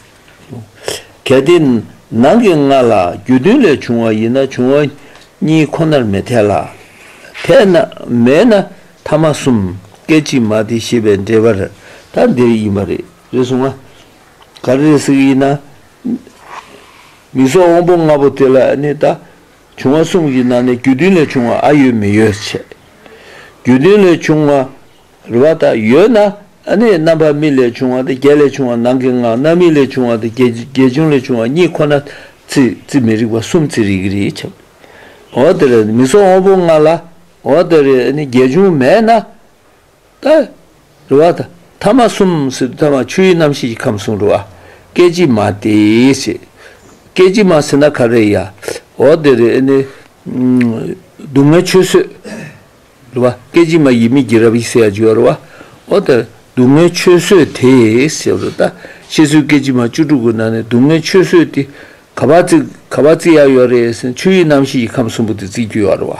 Speaker 1: གལ་ཏེ། ནང་གི་ལྔ་ལ་རྒྱུ་བདུན་ལས་བྱུང་བ་ཡིན་ན་བྱུང་བ་གཉིས་ཁོ་ནར་མི་འཐད་ལ། དེ་མེད་ན་ཐ་མ་གསུམ་སྐད་ཅིག་མ་དེ་ཤེས་པའི་འབྲེལ་པར་ཐ་འདིར་ཡིན་པ་རེད་གསུངས་ལ། ག་རེ་རེ་ཟིག་ཡིན་ན། མིག་སོགས་དབང་པོ་ལྔ་པོ་དེ་ལ་ནི་ད། བྱུང་བ་གསུམ་གྱི་ནང་ནས་རྒྱུ་མཐུན་ལས་བྱུང་བ་ཨ་ཡོད་མི་ཡོད་བྱས། རྒྱུ་མཐུན་ལས་བྱུང་བ་རེ་བ་དག་ཡོད་ན་ནི་རྣམ་པར་སྨིན་ལས་བྱུང་བ་དེ་བརྒྱད་ལས་བྱུང་བ་ནང་གི་ལྔ་རྣམ་སྨིན་ལས་བྱུང་བ་དེ་བརྒྱད་བྱུང་ལས་བྱུང་བ་གཉིས་ཁོ་ན་རྩིས་མི་རིགས་པ་གསུམ་རྩིས་རིག་གི་རེད་བྱས། འོ་དེ་རེ་མིག་སོགས་དབང་པོ་ལྔ་ལ་འོ་དེ་རེ་ནི་བརྒྱད་བྱུང་མེད་ན། ལྟར། རུ་བ། ཐ་མ་གསུམ་སྲིད་དུ་ཐ་མ་ཆུ་ཡི་རྣམ་ཤེས་ཀྱི་ཁམས་གསུང་རུ་བ། སྐད་ཅིག་མ་དེ་སྲིད། སྐད་ཅིག་མ་སྲིད་ན་ག་རེ་ཡ། འོ་དེ་རེ་ནི། སྡུག་བསྔལ་ཆོས་བཟོད། རུ་བ། སྐད་ཅིག་མ་ཡིད་མི་བགྱིད་རབ་ཡིད་སེ་ཡ་འཇུ་བ་རུ་བ། འོ་དེ་རེ་སྡུག་བསྔལ་ཆོས་བཟོད་དེ་ཞེས་པ་རུ་བ། ཤེས་བཟོད་སྐད་ཅིག་མ་བཅུ་དྲུག་གི་ནང་ནས་སྡུག་བསྔལ་ཆོས་བཟོད་དེ། ག་བ་བརྩི། ག་བ་བརྩི་ཡ་ཡོ་རེ་ཟན་ཆུ་ཡི་རྣམ་ཤེས་ཀྱི་ཁམས་གསུམ་པོ་དེ་བརྩི་རྒྱུ་ཡོ་རུ་བ།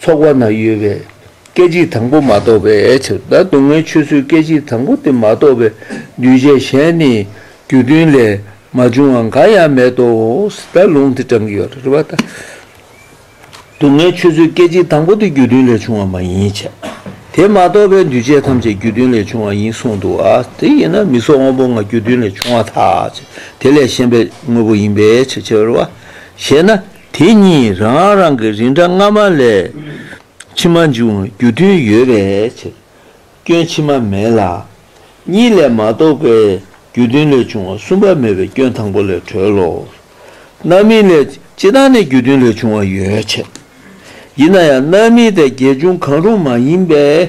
Speaker 1: ཚོགས་བར་ན་ཡོད་པའི་སྐད་ཅིག་དང་པོ་མ་གཏོགས་པའི་ཕྱིར་ད་སྡུག་བསྔལ་ཆོས་ཚུལ་སྐད་ཅིག་དང་པོ་དེ་མ་གཏོགས་པའི་འདུས་བྱས་གཞན་ནི་རྒྱུ་མཐུན་ལས་མ་བྱུང་བ་འགའ་ཡང་མེད་དོ། ད་ལུང་དེ་དྲང་ཡོད་རེད་བ་ད། སྡུག་བསྔལ་ཆོས་ཚུལ་སྐད་ཅིག་དང་པོ་དེ་རྒྱུ་མཐུན་ལས་བྱུང་བ་མ་ཡིན་ཆ། དེ་མ་གཏོགས་པའི་འདུས་བྱས་ཐམས་ཅད་རྒྱུ་མཐུན་ལས་བྱུང་བ་ཡིན་གསུངས་འདུག་བ། དེ་ཡིན་ན་མི་སོགས་དངོས་པོ་ལྔ་རྒྱུ་མཐུན་ལས་བྱུང་བ་དག་ཅེས་དེ་ལས་གཞན་པའི་དངོས་པོ་ཡིན་པའི་ཕྱིར་ཕྱིར་བ། ཞེ་ན། དེ་གཉིས་རང་རང་གི་རིགས་འདྲ་སྔ་མ་ལས་ཕྱི་མ་འབྱུང་བའི་རྒྱུ་མཐུན་ཡོད་པའི་ཕྱིར། སྐྱོན་ཕྱི་མ་མེད་ལ། གཉིས་ལས་མ་གཏོགས་པའི་རྒྱུ་མཐུན་ལས་བྱུང་བ་གསུམ་པ་མེད་པའི་སྐྱོན་དང་པོ་ལས་གྲོལ་ལོ། རྣམ་སྨིན་ལས་སྤྱི་དང་ནི་རྒྱུ་མཐུན་ལས་བྱུང་བ་ཡོད་བྱད། ཡིན་ན་ཡང་རྣམ་སྨིན་དང་དགེ་སྦྱོང་གང་རུང་མ་ཡིན་པའི་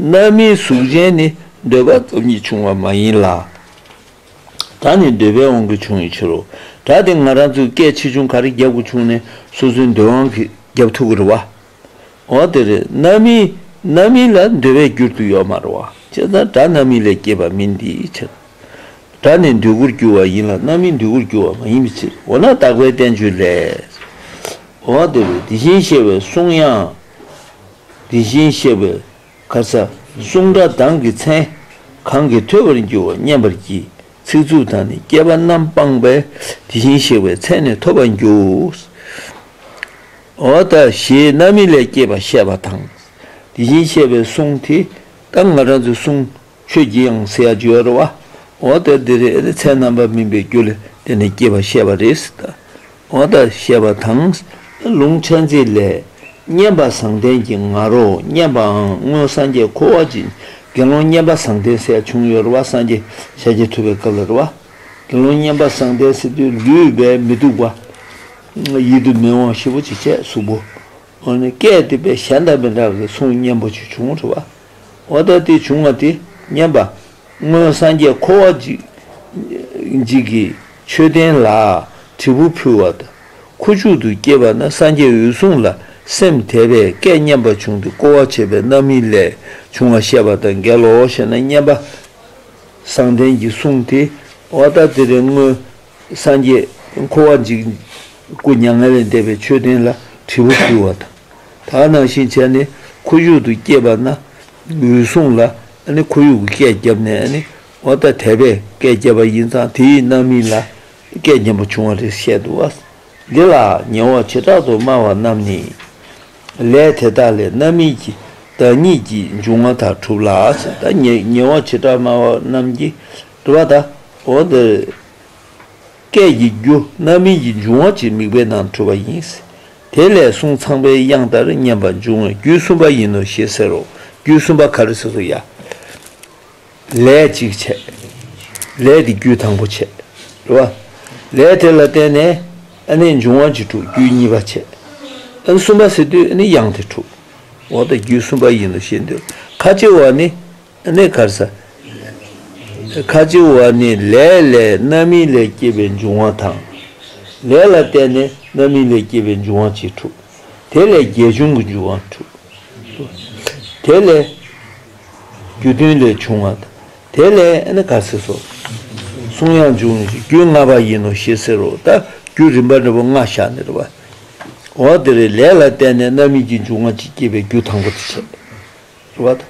Speaker 1: རྣམ་སྨིན་གཟུགས་ཅན་ནི་འདོད་པ་སྟོབས་ཉིད་བྱུང་བ་མ་ཡིན་ལ། ད་ནི་འདོད་པའི་དབང་གིས་བྱུང་བའི་ཕྱིར་རོ། སྒྲ་དེ་ང་རང་ཚོའི་སྐད་ཆེ་ཆུང་ག་རེ་རྒྱབ་ཀྱི་བྱུང་ནས་སོ་སོའི་འདོད་དབང་གིས་རྒྱབ་ཐུབ་ཀྱི་རེད་བ། འོ་དེ་རེད་རྣམ་སྨིན་རྣམ་སྨིན་ལ་འདོད་པའི་རྒྱུར་དུ་ཡོད་མ་རེད་བ། ཅེས་ན་སྒྲ་རྣམ་སྨིན་ལས་སྐྱེས་པ་མིན་དེའི་ཕྱིར། སྒྲ་ནི་འདོད་རྒུར་གྱུར་བ་ཡིན་ལ་རྣམ་སྨིན་འདོད་རྒུར་གྱུར་བ་མ་ཡིན་པའི་ཕྱིར་འོ་ན་དག་པའི་བསྟན་བཅོས་ལས། འོ་དེ་རེད་དེ་བཞིན་གཤེགས་པའི་གསུང་དབྱངས། དེ་བཞིན་གཤེགས་པའི་གར་ས་གསུང་སྒྲ་གདངས་ཀྱི་མཚན། གང་གིས་ཐོས་པར་འགྱུར་བ་མཉན་པར་གྱིས། ཚིག་རྩུབ་དང་ནི་སྐྱེས་པ་རྣམ་སྤངས་པས། དེ་བཞིན་གཤེགས་པའི་མཚན་ནི་ཐོབ་པར་འགྱུར། འོ་ད་ཞེས་རྣམ་སྨིན་ལས་སྐྱེས་པ་བཤད་པ་དང། དེ་བཞིན་གཤེགས་པའི་གསུང་དེ་ལྟར་ང་རང་ཚོའི་གསུང་ཁྱོད་ཀྱིས་ཡང་ཟེར་ཡ་བྱོས་རོ། འོ་ད་འདི་རེ་རེ་ཚད་རྣམ་པར་སྨིན་པའི་རྒྱུ་ལས་དེ་ནི་སྐྱེས་པ་བཤད་པ་རེད། འོ་ད་བཤད་པ་དང། ལུང་ཕྲན་ཚེགས་ལས། བསྙེན་པ་བཟང་ལྡན་གྱི་ང་རོ་བསྙེན་པའང་སྔོན་སངས་རྒྱས་འཁོར་བ་གྱི་དགེ་སློང་བསྙེན་པ་བཟང་ལྡན་སྲས་བྱུང་ཡོད་རོ་བ་སངས་རྒྱས་ཞལ་གྱིས་ཐུབ་པའི་སྐབས་ལ་རོ། དགེ་སློང་བསྙེན་པ་བཟང་ལྡན་སྲས་དུས་ལུས་པས་མི་སྡུག་པ། ཡིད་དུ་མི་འོང་ཤི་བོ་ཅི་བྱས་གཟུགས་པོ། སྐད་དེ་པས་གཞན་དང་མི་འདྲ་བའི་གསུང་སྙན་པོ་ཅིག་བྱུང་རོ་བ། བ་ལྟ་སྟེ་བྱུང་བ་དེ་མཉན་པ། སྔོན་སངས་རྒྱས་འཁོར་བ་འཇིག་གི་མཆོད་རྟེན་ལ་དྲིལ་བུ་ཕུལ་བ་དང། ཁུ་བྱུག་ཏུ་སྐྱེས་པ་ན་སངས་རྒྱས་འོད་སྲུང་ལ་སེམས་དད་པས་སྐད་སྙན་པ་བྱུང་སྟེ་བསྐོར་བ་བྱེད་པའི་རྣམ་སྨིན་ལས་བྱུང་བ་བཤད་པ་དང་འགལ་ལོ་ཞེ་ན་མཉན་པ། བསང་གཏན་གྱི་གསུང་དེ་བ་ལྟ་སྟེ་རེ་སྔོན་སངས་རྒྱས་འཁོར་བ་འཇིག། སྐུ་མྱ་ངན་ལས་འདས་པའི་མཆོད་རྟེན་ལ་དྲིལ་བུ་ཕུལ་བ་དང། དག་སྣང་བཞིན་བྱས་ནས་ཁོ་བཞུགས་དུ་བསྐྱེད་པ་ན། འོད་སྲུང་ལ་ཁོར་ཡུག་གི་སྐད་བརྒྱབ་ནས་ཨ་ནི་ཨོ་ད་དད་པས་སྐད་བརྒྱབ་པ་ཡིན་ཙང་དེ་ཡི་རྣམ་སྨིན་ལ་སྐད་བརྒྱབ་པ་བྱུང་བ་རེད་བཤད་འདུག་བ། འདི་ལ་ཉེ་བར་བྱེ་བྲག་ཏུ་སྨྲ་བ་རྣམས་ནི། ལས་དེ་དག་ལས་རྣམ་སྨིན་གྱི་བདག་ཉིད་ཀྱི་འབྱུང་བ་དག་གྲུབ་ལ། ཉེ་བར་བྱེ་བྲག་སྨྲ་བ་རྣམས་ཀྱི། དུ་བ་དང། འོག་འདིར་སྐད་ཀྱི་རྒྱུ་རྣམ་སྨིན་གྱི་འབྱུང་བ་གཅིག་དམིགས་པའི་ནང་འཁྲུལ་བ་ཡིན། དེ་ལས་གསུངས་ཚངས་པའི་དབྱངས་ལྟར་སྙན་པ་འབྱུང་བའི་རྒྱུད་གསུམ་པ་ཡིན་ནོ་ཞེས་ཟེར་རོ། རྒྱུད་གསུམ་པ་ག་རེ་ཟེར་སོ་ཡ། ལས་གཅིག་བྱས། ལས་དེ་རྒྱུད་དང་པོ་བྱས། དུ་བ། ལས་དེ་ལ་བརྟེན་ནས་ནི་འབྱུང་བ་གཅིག་དྲུག་རྒྱུད་གཉིས་པ་བྱས། གསུམ་པ་ཟེར་དུས་ནི་དབྱངས་དེ་དྲུག། འོག་འདི་རྒྱུད་གསུམ་པ་ཡིན་ནོ་ཞེས་འདོད། ཁ་ཅིག་བ་ནི། གནས་ཁར་ས། ཁ་སྤྱི་བོ་བ་ནི་ལས་ལས་རྣམ་སྨིན་ལས་སྐྱེས་པའི་འབྱུང་བ་དང། ལས་ལ་བརྟེན་ནས་རྣམ་སྨིན་ལས་སྐྱེས་པའི་འབྱུང་བ་གཅིག་དྲུག། དེ་ལས་བརྒྱད་འབྱུང་གི་འབྱུང་བ་དྲུག། དེ་ལས། རྒྱུ་མཐུན་ལས་བྱུང་བ་དང། དེ་ལས་གནས་ཁར་ས་སོ། གསུང་ཡང་འབྱུང་ནི་རྒྱུ་ལྔ་པ་ཡིན་ནོ་ཞེས་ཟེར་རོ། ད་རྒྱུ་རིམ་པ་འབྲས་བུ་ལྔ་བཞག་ནས་རེ་བ། འོ་དེ་རེ་ལས་ལ་བརྟེན་ནས་རྣམ་སྨིན་གྱི་འབྱུང་བ་གཅིག་སྐྱེས་པའི་རྒྱུ་དང་པོ་དེ་བྱས། བ་དང།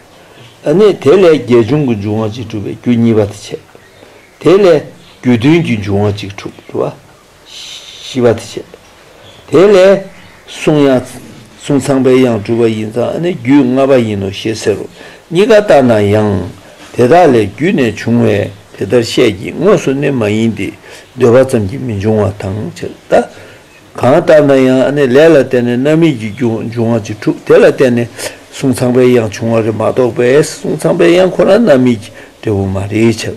Speaker 1: ཨ་ནི་དེ་ལས་རྒྱས་བྱུང་གི་འབྱུང་བ་གཅིག་གྲུབ་པའི་རྒྱུ་གཉིས་པ་དེ་བྱས། དེ་ལས་རྒྱུ་མཐུན་གྱི་འབྱུང་བ་གཅིག་གྲུབ་བ་བཞི་པ་དེ་བྱས། དེ་ལས་གསུང་ཡང་གསུང་ཚངས་པའི་ཡང་གྲུབ་པ་ཡིན་ཙང་ཨ་ནི་རྒྱུད་ལྔ་པ་ཡིན་ནོ་ཞེས་ཟེར་རོ། གཉིས་ཀ་ལྟར་ན་ཡང་དེ་དག་ལས་རྒྱུད་ནས་བྱུང་བས་དེ་ལྟར་བཤད་ཀྱི་དངོས་སུ་ནི་མ་ཡིན་ཏེ་ཟློས་པ་ཙམ་གྱིས་མི་འབྱུང་བ་དང་བྱེད་ལྟ། གང་ལྟར་ན་ཡང་ནི་ལས་ལ་བརྟེན་ནས་རྣམ་སྨིན་གྱི་རྒྱུ་འབྱུང་བ་ཅི་འཁྲུགས་དེ་ལ་བརྟེན་ནས་གསུང་ཚངས་པའི་དབྱངས་བྱུང་བ་རེད་མ་གཏོགས་པས་གསུང་ཚངས་པའི་དབྱངས་ཁོ་ན་རྣམ་སྨིན་གྱི་འབྲས་བུ་མ་རེད་ཕྱིར།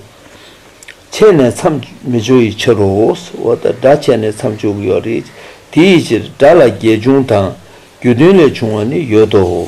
Speaker 1: ཆད་ནས་མཚམས་མི་འཇོག་ཡི་ཕྱིར་རོ། འོ་ད་སྒྲ་ཆད་ནས་མཚམས་འཇོག་གི་ཡོད་རེད། དེ་ཡི་ཕྱིར་སྒྲ་ལ་རྒྱས་འབྱུང་དང་རྒྱུ་མཐུན་ལས་བྱུང་བ་ནི་ཡོད་དོ།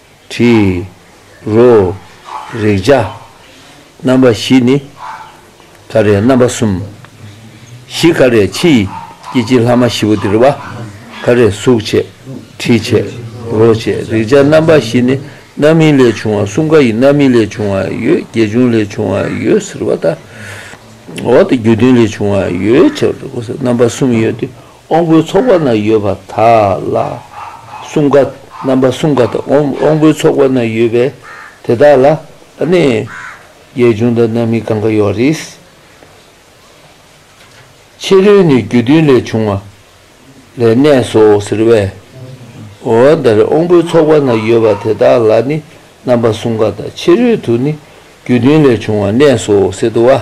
Speaker 1: དྲི་རོ། རེག་བྱ། རྣམ་པ་བཞི་ནི། ཀ་རའི་རྣམ་པ་གསུམ། བཞི་ཀ་རའི་ཕྱི་ཡི་སྐྱེ་འཆི་ལྷག་མ་བཞི་པོ་འདིར་བ། ཀ་རས་གཟུགས་བྱས། དྲི་བྱས། རོ་བྱས་རེག་བྱ་རྣམ་པ་བཞི་ནི་རྣམ་སྨིན་ལས་བྱུང་བ་གསུམ་ཀ་ཡི་རྣམ་སྨིན་ལས་བྱུང་བ་ཡོད་དགེ་སྦྱོང་ལས་བྱུང་བ་ཡོད་ཟེར་བ་ལྟར། འོག་ཏུ་རྒྱུ་མཐུན་ལས་བྱུང་བ་ཡོད་ཅེས་པ་རྣམ་པ་གསུམ་ཡོད་དེ་དབང་པོའི་ཚོགས་པ་ན་ཡོད་པ་དག་ལ་གསུམ་ཀ། རྣམ་པ་གསུམ་ཀ་དང་དབང་པོའི་ཚོགས་པ་ན་ཡོད་པའི་དེ་དག་ལ་ནི། རྒྱས་བྱུང་དང་རྣམ་སྨིན་གང་གཱ་ཡོ་རིས། ཕྱི་རོལ་ནི་རྒྱུ་མཐུན་ལས་བྱུང་བ་ལས་གནས་སོ་ཟེར་བས། འོ་ན་དབང་པོའི་ཚོགས་པ་ན་ཡོད་པ་དེ་དག་ལ་ནི་རྣམ་པ་གསུམ་ཀ་དང་ཕྱི་རོལ་དུ་ནི་རྒྱུ་མཐུན་ལས་བྱུང་བ་གནས་སོ་ཟེར་དུ་བ།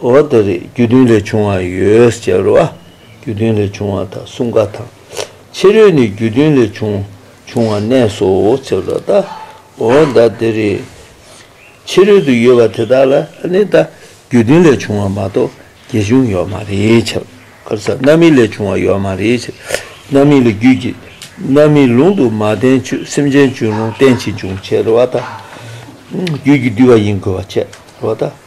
Speaker 1: འོ་དེ་རེད་རྒྱུ་མཐུན་ལས་བྱུང་བ་ཡོད་ཟེར་བ་རྒྱུ་མཐུན་ལས་བྱུང་བ་དང་སྲུང་སྐ་དང་ཕྱི་རོལ་ནས་རྒྱུ་མཐུན་ལས་བྱུང་བྱུང་བ་གནས་སོ་ཟེར་བ་ད་འོ་ད་དེ་རེད་ཕྱི་རོལ་དུ་ཡོད་པ་དེ་དག་ལ་ནི་ད་རྒྱུ་མཐུན་ལས་བྱུང་བ་མ་གཏོགས་རྒྱས་བྱུང་ཡོད་མ་རེད་ཕྱི་རོལ་ས་རྣམ་སྨིན་ལས་བྱུང་བ་ཡོད་མ་རེད་ཕྱི་རོལ་ས་རྣམ་སྨིན་ལས་རྒྱུད་ཀྱི་རྣམ་སྨིན་ལུང་དུ་མ་བསྟན་ཆོས་སེམས་ཅན་བྱུང་ལུང་བསྟན་ཕྱིས་བྱུང་ཟེར་བ་ད་རྒྱུད་ཀྱི་བསྡུས་པ་ཡིན་དགོས་པ་ཟེར་བ་ད།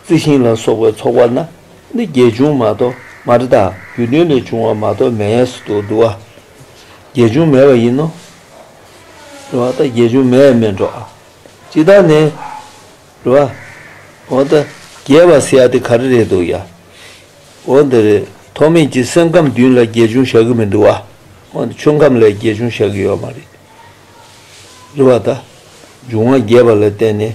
Speaker 1: རྩི་ཤིང་ལ་སོགས་པའི་ཚོགས་པ་ན་ནི་བརྒྱད་འབྱུང་མ་གཏོགས་མ་རི་དྭགས་རྒྱུ་མཐུན་ལས་བྱུང་བ་མ་གཏོགས་མེད་ཡས་སུ་དུ་འདུ་བ་བརྒྱད་འབྱུང་མེད་པ་ཡིན་ནོ། རེ་བ་ད་བརྒྱད་འབྱུང་མེད་མེད་འགྲོ། ཇི་ལྟར་ནི། རེ་བ། འོ་ད་རྒྱས་པར་སེ་ཡ་དེ་ག་རེ་རེད་འདུག་ཡ། འོ་འདི་རེད་ཐོག་མེད་ཀྱི་སེམས་ཁམས་བདུན་ལ་བརྒྱད་འབྱུང་བཞག་གི་མི་འདུག་བ། འོ་འདི་ཆོས་ཁམས་ལས་བརྒྱད་འབྱུང་བཞག་གི་ཡོད་མ་རེད། རེ་བ་ད། འབྱུང་བ་རྒྱས་པ་ལ་བརྟེན་ནས།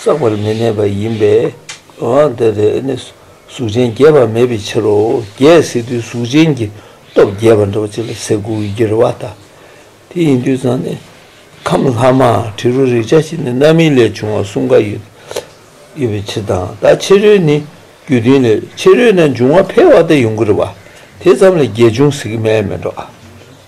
Speaker 1: བསགས་པར་མི་གནས་པ་ཡིན་པས་ཨཱ། དེ་ལྟར་ནི་གཟུགས་ཅན་རྒྱས་པ་མེད་པའི་ཕྱིར་རོ། རྒྱས་སྲིད་དུ་གཟུགས་ཅན་གྱི་སྟོབས་རྒྱས་པར་འགྲོ་བ་ཅི་ལ་ཟེར་དགུ་བའི་རྒྱུ་རེ་བ་ལྟ། དེ་ཡིན་དུས་ཙང་ནི་ཁམས་ལྷག་མ་དྲི་རོ་རེག་བྱ་ཞེས་ནི་རྣམ་སྨིན་ལས་བྱུང་བ་གསུམ་ཀ་ཡོད་པའི་ཕྱིར་དང་ད་ཕྱི་རོལ་ནི་རྒྱུ་མཐུན་ལས་ཕྱི་རོལ་ན་འབྱུང་བ་འཕེལ་བ་དེ་ཡོང་གི་རེ་བ་དེ་ཙམ་ལས་རྒྱས་འབྱུང་ཟེར་གྱི་མེད་མི་འགྲོ།